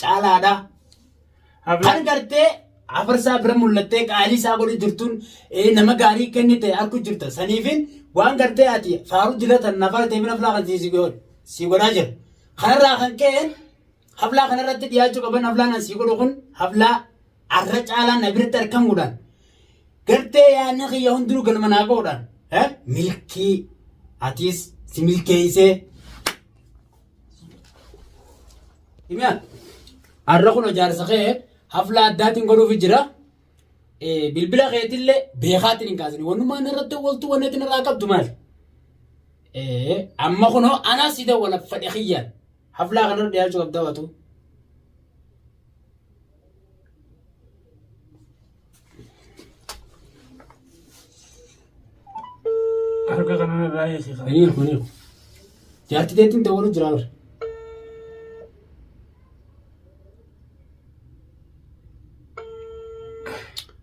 caalaadha. Kan gartee afarsaa bira mul'attee qaalii isaa godhu jirtuun nama gaarii kennite arku jirta. Saniifin waan gartee ati faaruu dilatan nafara ta'e bina filaa kan si godhaa jira. Kanarraa kan ka'een haflaa kanarratti dhiyaachuu qaban haflaan an si godhu kun haflaa arra caalaa na biratti argamuudhaan gartee yaadni kiyya hundinuu galma naa ga'uudhaan milkii atiis si milkeessee Himiyaan har'a kun ijaarsa kee hafla addaatiin godhuuf jira. Bilbila keetillee beekaatiin hin kaasine. Wanumaan irratti waltu wanni itti irraa qabdu maali? Amma kunoo anaa si dawwala fedhe kiyyaan. Haflaa kanarra dhiyaachuu qabda waatu. Harka kana irraa eegi kan. Ani kun hiiku. Jaartii teettiin dawwalu jira bara.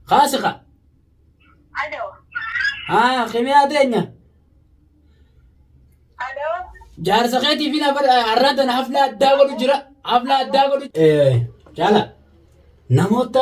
Kaasi ka. Alo. Haa kimiyaa teenya. Alo. Jaarsa keetii fi lafa arraa tana hafla addaa godhu jira. Hafla addaa godhu. Jaala namoota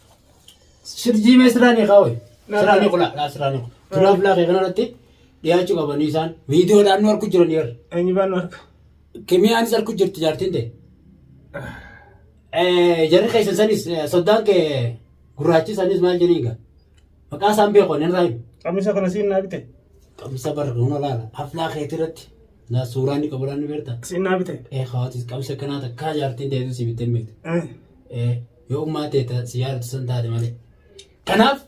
Sirjii mee siraanii kaawwe. Siraanii qulaa dhaa siraanii qulaa. Turaa bulaa kee kanarratti dhiyaachuu qabanii isaan viidiyoodhaan nu arku jiran yeroo. Eenyu baan arka. Kimiyaanis arku jirti jaartiin ta'e. Jarri keessan sanis soddaan kee gurraachi sanis maal jedhiin gaa. Maqaa isaan beeku hin raayu. Qamisa kana siin naa bite. Qamisa barra huna laala. Aflaa keetii irratti naa suuraa inni qabu laanni beektaa. Siin naa bite. Ee hawaatis qamisa kanaa takkaa jaartiin ta'e si bittee hin beektu. Eh. Yoo ogummaa tee ta si yaadattu san taate malee. Kanaaf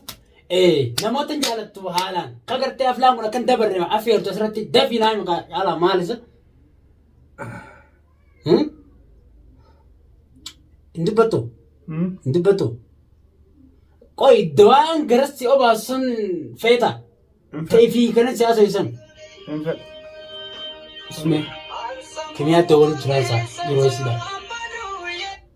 namoota hin jaalattu haalaan ka gartee aflaan kun akkan dabarre affeertu asirratti dafii naa hima haalaan maalisa. Hin dubbattu. Hin dubbattu. Qoy dawaan garassi obaasu sun feeta. Ta'e fi kanan siyaasa ibsan. Hin fedhu. Isme kimiyaatti waliin turan isaa yeroo isii dha.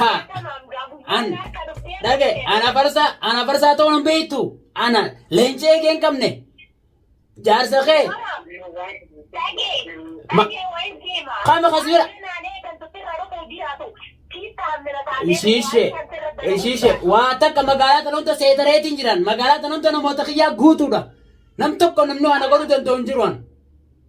Ha! An dhage ana farsaa ana farsaa ta'uu hin beektu. Ana leencee kee hin qabne. Jaarsa kee Kama kasbira. Ishiishe ishiishe waa takka magaalaa tan hunda seetareetiin jiran magaalaa tan hunda namoota kiyyaa guutuudha. Nam tokko namni waan na godhuu danda'u hin jiru an.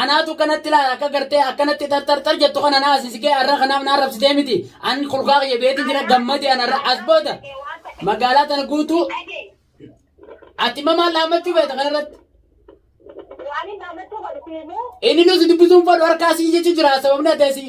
Anaatu akkanatti ilaala akka gartee akkanatti tartartar jettu kana na asisikee arra kanaaf na arrabsitee miti. An kolkaa kiyya beeti jira gammade an arra as booda magaalaa tana guutuu ati immoo maal dhaammachuu beeta kanarratti. Waan hin dhaammachuu godhu siimuu. Inni nuti dubbisuun fadhu harkaa sii jecha jira sababni adda sii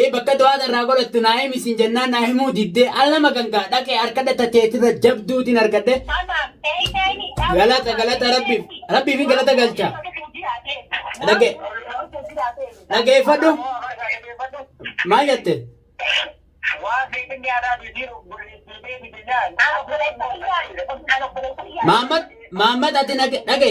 Ee bakka do'aata irraa godhattu naa himi siin jennaan naa himuu diddee al nama kan kaa dhaqee arkadha tateetirra jabduutiin arkadhe. Galata galata rabbiif rabbiifin galata galcha. Dhage dhageeffadhu maal jette? Maammat maammat ati dhage dhage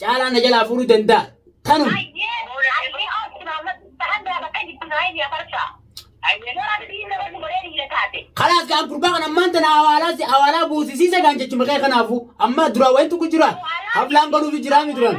Caalaa na jalaa fuudhuu danda'a. Tanuma. Kalaas kaan gurbaa kan ammaan tana awaalaa si awaalaa buusisiisa kaan jechuma kee kanaafuu amma duraa wayiin tokko jira. Hablaan godhuufi jiraa mi duraan.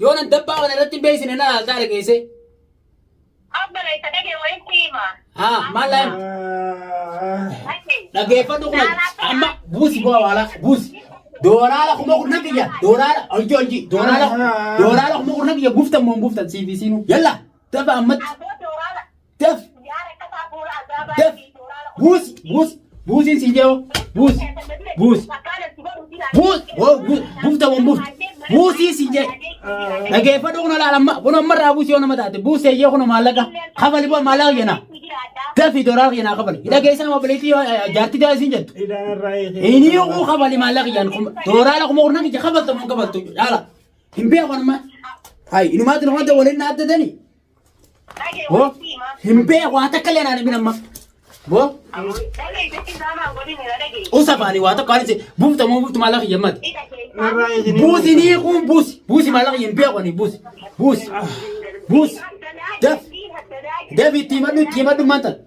Yoo nan dabbaa kana irratti hin beeksine na laaltaa dhageessee. Abbala isa dhagee wayii si hima. Haa maal laa hima? Achi. Dhaggeeffadhu kuma amma buusi bu'aa waalaa buusi. Doolaara kuma kurnan kiyya doolaara hojii hojii doolaara doolaara kuma kurnan kiyya guftan moo hin guftan siif isiinu yalla dafa ammatti. Abboo dooraala. Daf. Daf. Buus. Buus. Buusiin siin jedhu. Buus. Buus. Buus. Woo buus. Buufta waan buufta. Buusii siin jedhu. Dhageeffadhu kun olaal amma kun amma irraa buusii yoo nama taate buusee yoo kun maallaqa kafali boo maallaqa jenna. Dafi doolar jenna kafali. Dhageessaa nama bileetii yoo jaartii daa siin jettu. Inni yoo kafali maallaqa jenna kun doolar kuma kurnan ija kafalta mun kafaltu dhaala. Hin beeku amma. Hai inumaatti nama wanta waliin na addatanii. Bo hin bee waa takka illee naan amma. Bo usa baani waa takka waan buufta moo buuftu maallaqa hin yammatu. Buusi ni kun buusi buusi maallaqa hin bee kuni buusi buusi buusi daf daf itti himadhu itti himadhu maanta.